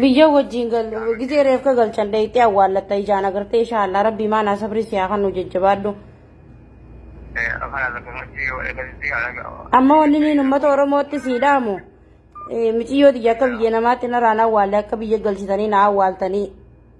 Biyya wajjin gal gizee reefka galchan dayxee awwaallatta ijaan agartee inshaallah rabbii maanaa sabrii siyaa kan nu jajjabaadhu. Amma wanni niin uummata Oromootti sii dhaamu miciyyooti akka biyya namaatti narraan awwaalle akka biyya galchitanii na awwaaltanii.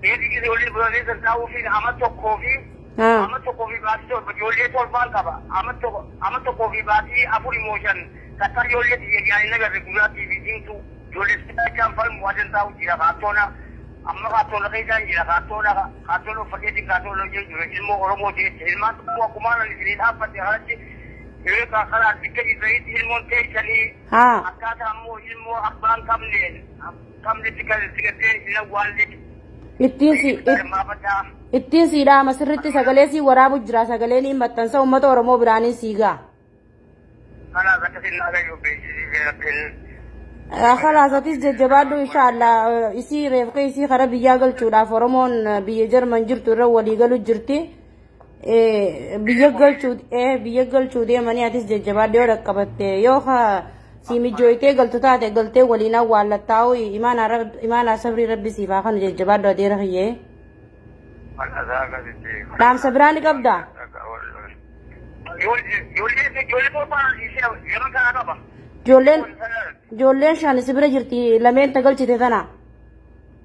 Beeti ijoollee biroolee san taa'uufiin ama tokkoo fi Haa. ama tokkoo fi baatii torba ijoollee torbaan qaba. Ama tokko ama tokkoo fi baatii afur immoo shan takkaa ijoollee tiyya ijaan hin agarre gurraattii fi diimtuu ijoollee sibiilachaan falmu adan taa'u jira kaattoona. Amma kaattoona keessaan jira kaattoona kaattoona uffateetiin kaattoona hojii jira ilmoo Oromoo jeetti ilmaan tokkoo akkumaan ani isinii dhaabbate kanatti yoo karaa bikka jirtanitti ilmoon teessanii Haa. akkaataa immoo ilmoo abbaan qabneen qabne si gal- si galtee hin awwaalle. Ittiin si Itti hirmaafadhaa. ittiin sii dhaama sirritti sagalee sii waraabu jira sagalee ni maxxansa uummata Oromoo biraaniin sii ga'a. Kanaaf akkasiin naa gayyuu beeksisiisee rabbiin. Kalaasatis jajjabaadhu inshaallah isii reefka isii kara biyyaa galchuudhaaf Oromoon biyya Jarman jirtu irra walii galu jirti. biyya galchuu biyya galchuu deemanii atis jajjabaadhee yoo dhaqqabatte yoo ka si mijooytee galtu taate galtee waliin awwaallattaa'u imaanaa sabrii rabbi siif haa kanu jajjabaadhu adeera kiyyee dhaamsa biraa ni qabda ijoolleen ijoolleen shan si bira jirti lameen ta galchite tana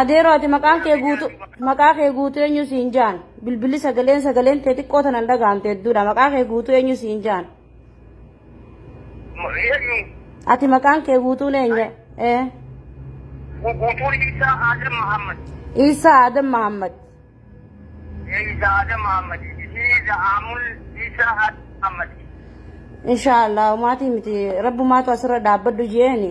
Adeeroo ati maqaan kee guutu maqaa kee guutu eenyu siin jaan bilbilli sagaleen sagaleen tee xiqqoo tanan dhagahamte hedduudha maqaa kee guutu eenyu siin jaan Eenyu ati maqaan kee guutuun eenyu ee guutuun Isaa Adam Muhammad. Iisaa Adam Mahammad Isa Adam Muhammad. Isa Amul Isa Adam Muhammad. inshaa Allah maatii miti rabbumaatu asirra dhaabbadhu jeeni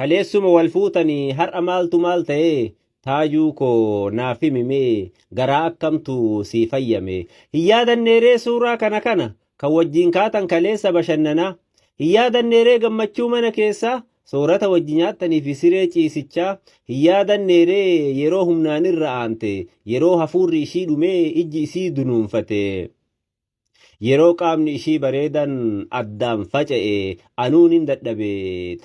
Kaleessuma wal fuutanii har'a maaltu maal ta'ee Taajuu koo naaf himi mee garaa akkamtu sii fayyame Hin yaadanneeree suuraa kana kana kan wajjin kaatan kaleessa bashannanaa Hin yaadanneeree gammachuu mana keessaa soorata wajji nyaattanii fi siree ciisichaa Hin yaadanneeree yeroo humnaan irra aante yeroo hafuurri ishii dhumee ijji isii dunuunfate Yeroo qaamni ishii bareedan addaan faca'e anuu nin dadhabe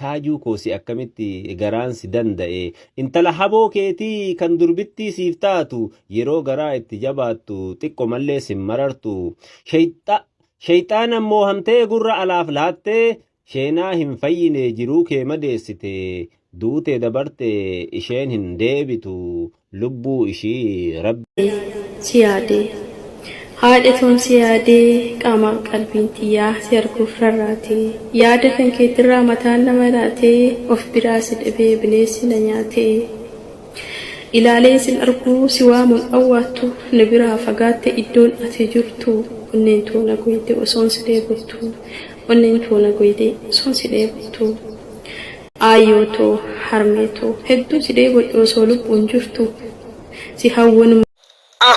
taajuu koo si akkamitti garaan si danda'e intala haboo keetii kan durbittii siif taatu yeroo garaa itti jabaattu xiqqo mallee sin marartu shayxaana moohamtee gurra alaaf laattee Sheenaa hin fayyinee jiruu kee madeessite duute dabarte isheen hin deebitu lubbuu ishii rabbi. si yaadee. Haadha toon si yaadee qaamaaf qalbiin tiyyaa si arguuf rarraate. Yaada kan keetirraa mataan na maraate of biraa si dhabee bineessi na nyaate. Ilaaleen sin argu si waamuun awwaattu na biraa fagaatte iddoon ati jirtu onneen too na gooyte osoon si dheebottu Onneen too na goydee osoon si dheebottuu. Aayyoo too, harmee too, hedduu si dheebodhe osoo lubbuun jirtuu. Si hawwun. a.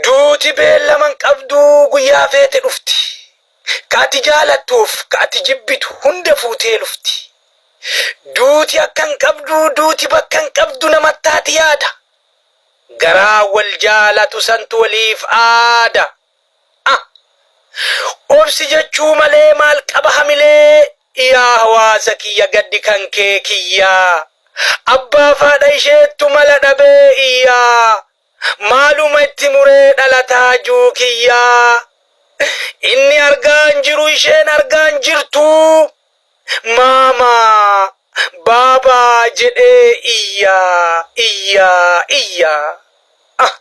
Duuti beellama hin qabdu, guyyaa feete dhufti. Ka ati jaalattuuf ka ati jibbitu hunda fuutee lufti. Duuti akka hin qabdu, duuti bakka hin qabdu nama taati yaada. Garaa wal jaalatu santu waliif aada. a. Obsi jechuu malee maal qaba hamilee Yaa hawaasa kiyya gaddi kan kee kiyya Abbaaf haadha isheettu mala dhabee iyya Maaluma itti muree dhalataa juu kiyya Inni argaa hin jiru isheen argaa hin jirtu Maamaa! Baabaa! jedhee iyyaa, iyyaa, iyyaa. Ah!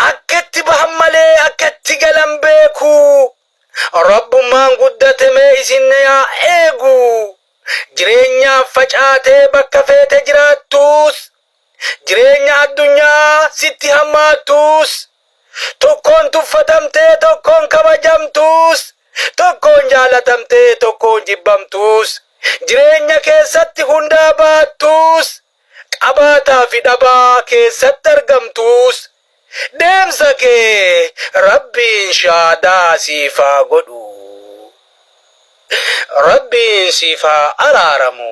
Akka itti bahan malee akka itti galan beeku. Rabbummaan guddate mee isin na yaa eegu. Jireenyaaf facaatee bakka feete jiraattuus jireenya addunyaa sitti hammaattuus tokkoon tuffatamtee tokkoon kabajamtuus tokkoon jaalatamtee tokkoon jibbamtuus jireenya keessatti hundaa baattuus qabaataa fi dhabaa keessatti argamtuus deemsa kee rabbiin shaadaa siif haa godhu rabbiin siif haa araaramu.